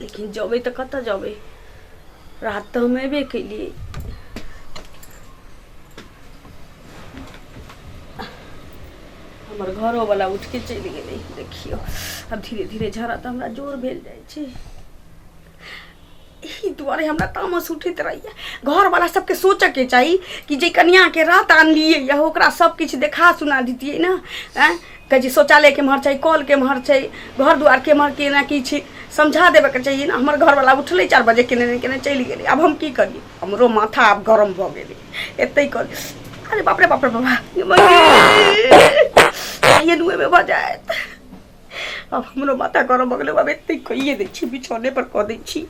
लेकिन जबै तऽ कतऽ जबै रात तऽ हम एबे केलियै हमर घरोवला उठिके चलि गेलै देखियौ आब धीरे धीरे झड़ा तऽ हमरा जोर भेल जाइ छै एहि दुआरे हमरा तामस उठैत रहैया घरवला सबके सोचऽके चाही कि जे कनियाके रात आनलियै यऽ ओकरा सब किछु देखा सुना दितियै ने आँय कहै छी शौचालय केम्हर छै कल केम्हर छै घर दुआर केम्हर केना की छै समझा देबयके चाहिए ने हमर घरवला उठलै चारि बजे केने ने केने चलि गेलै आब हम की करियै हमरो माथा आब गरम भऽ गेलै एतै कर अरे बाप रे बाप रे बाबा कहिए नुएमे भऽ जायत आब हमरो माथा गरम भऽ गेलै आब एतै कहिए दै छी बिछौने पर कऽ दै छी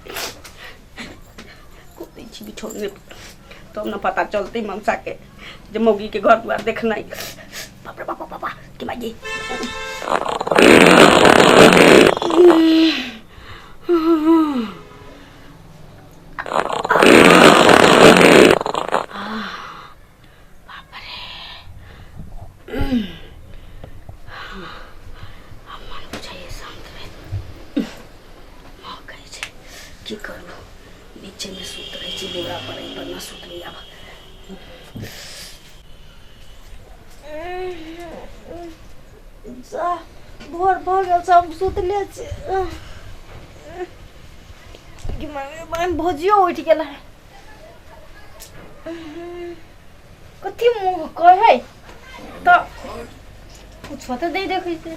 कऽ दै छी बिछौने पर तब न पता चलते मनसा के जे मौगी के घर दुआर देखना है बाप रे बाप बाप बाप कि माई भोर भऽ गेल छै हम सुतले छी कि मम्मी बहन भौजियो उठि गेल है कथी मुँह कहै तऽ किछो तऽ नहि देखै छै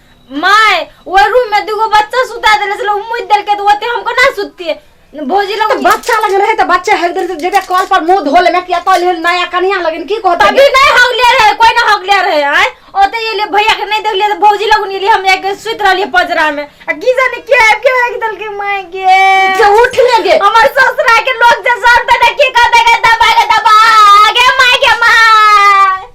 माय वो रूम में दूगो बच्चा सुता देले से लोग मुद देल के तो ओते हमको ना सुतती भौजी लोग बच्चा लगे रहे तो बच्चा हक दे जेबे कॉल पर मुंह धो ले में किया तो ले नया कनिया लगन की कहत तभी नहीं हक ले रहे कोई ना हक ले रहे आए ओते ये ले भैया के नहीं देख ले तो भौजी लोग नहीं ले हम एक सुत रहली पजरा में आ की जाने के है के एक दल के माय के के उठ ले गे हमार ससुरा के लोग जे सब तना के का देगा दबा के दबा आगे माय के माय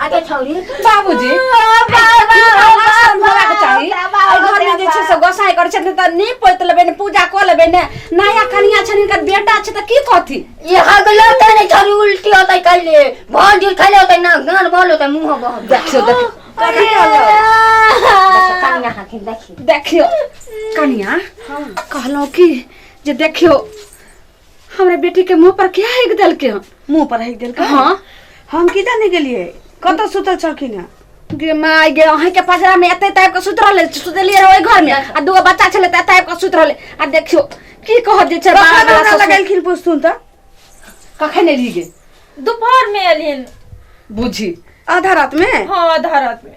आगे छौरी बाबूजी गोसाई करै छथिन तऽ नीप पोति लेबै ने पूजा कऽ लेबै ने नया कनिया छनि हिनकर बेटा छै तऽ की कहथिन ये हगलो ते ने छौरी उल्टी होतै कैले भर जुल खैले होतै ना गान भल होतै मुंह बह देखियो देखियो कथी कहलौ कनिया हाकिन देखियो देखियो कनिया कहलौ कि जे देखियो हमरा बेटी के मुंह पर क्या हेक दल के मुंह पर हेक दल के हां हम की जाने गेलिए कत सुतल छलखिन है गे माय गे अहीं के पजरा में एते टाइप के सुत रहले सुतलिए रहे घर में आ दूगो बच्चा छले त टाइप के सुत रहले आ देखियो की कह दे छै बाबा बाबा लगलखिन पुस्तुन त कखन ने ली गे दोपहर में एलिन बुझी आधा रात में हां आधा रात में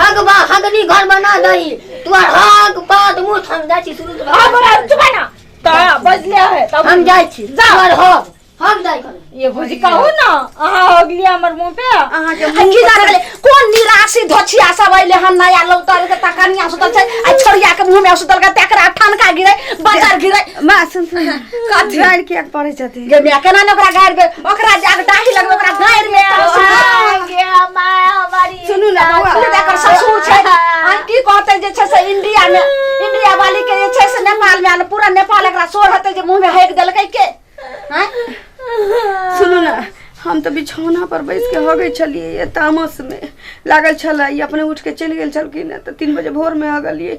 हग बा हगनी घर बना दही तू आर हग बात मुंह हम जाय छी सुनु आ बड़ा चुप ना त बजले है तब हम जाय छी जा और हग हम जाय कर ये भौजी कहू ना अहाँ अगली हमर मुंह पे अहाँ के मुंह की जाने गेले कोन निराशी धोछिया सब अइले हन नया लौटल के तकनिया सुतल छै आ छोड़िया के मुंह में सुतल के तेकरा ठनका गिरै बाजार गिरै माँ सुन सुन कथी? लड़की एक पढ़ै छथिन गे मिया केना ने ओकरा गाड़ि दे ओकरा जाके डाही लगबे ओकरा गाड़ि में आगे हमार हमारी सुनू ना बौआ सुनू ना, एकर ससुर छै आ की कहते जे छै से इंडिया में इंडिया वाली के जे छै से नेपाल में आल पूरा नेपाल एकरा सोर हते जे मुंह में हेक देलकै के हैं सुनू ना हम तऽ बिछौना पर बैस के हगै छलियै ये तामस में लागल छलै ई अपने उठ के चलि गेल छलखिन हँ तऽ तीन बजे भोर में हगलियै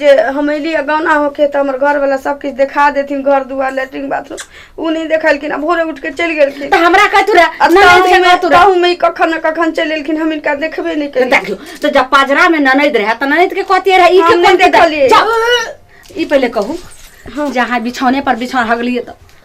जे हम अयली आ गौना होके तऽ हमर घरवला सब किछु देखा देथिन घर दुआर लेटरिन बाथरूम ओ नहि देखलखिन आ भोरे उठि के चलि गेलखिन तऽ हमरा कह तू रह आ ननद ताहू के मे- कह तू रह ताहू मे कखन ने कखन चलि एलखिन हम इनका देखबे नहि तऽ केलियै देखियो तो जब पाजरा में ननद रहे तऽ ननद के कहतिए रहे ई हम के नहीं कोन के देखलिए। जाओ, ई पहले कहू जहाँ बिछौने पर बिछौन हगलिए तऽ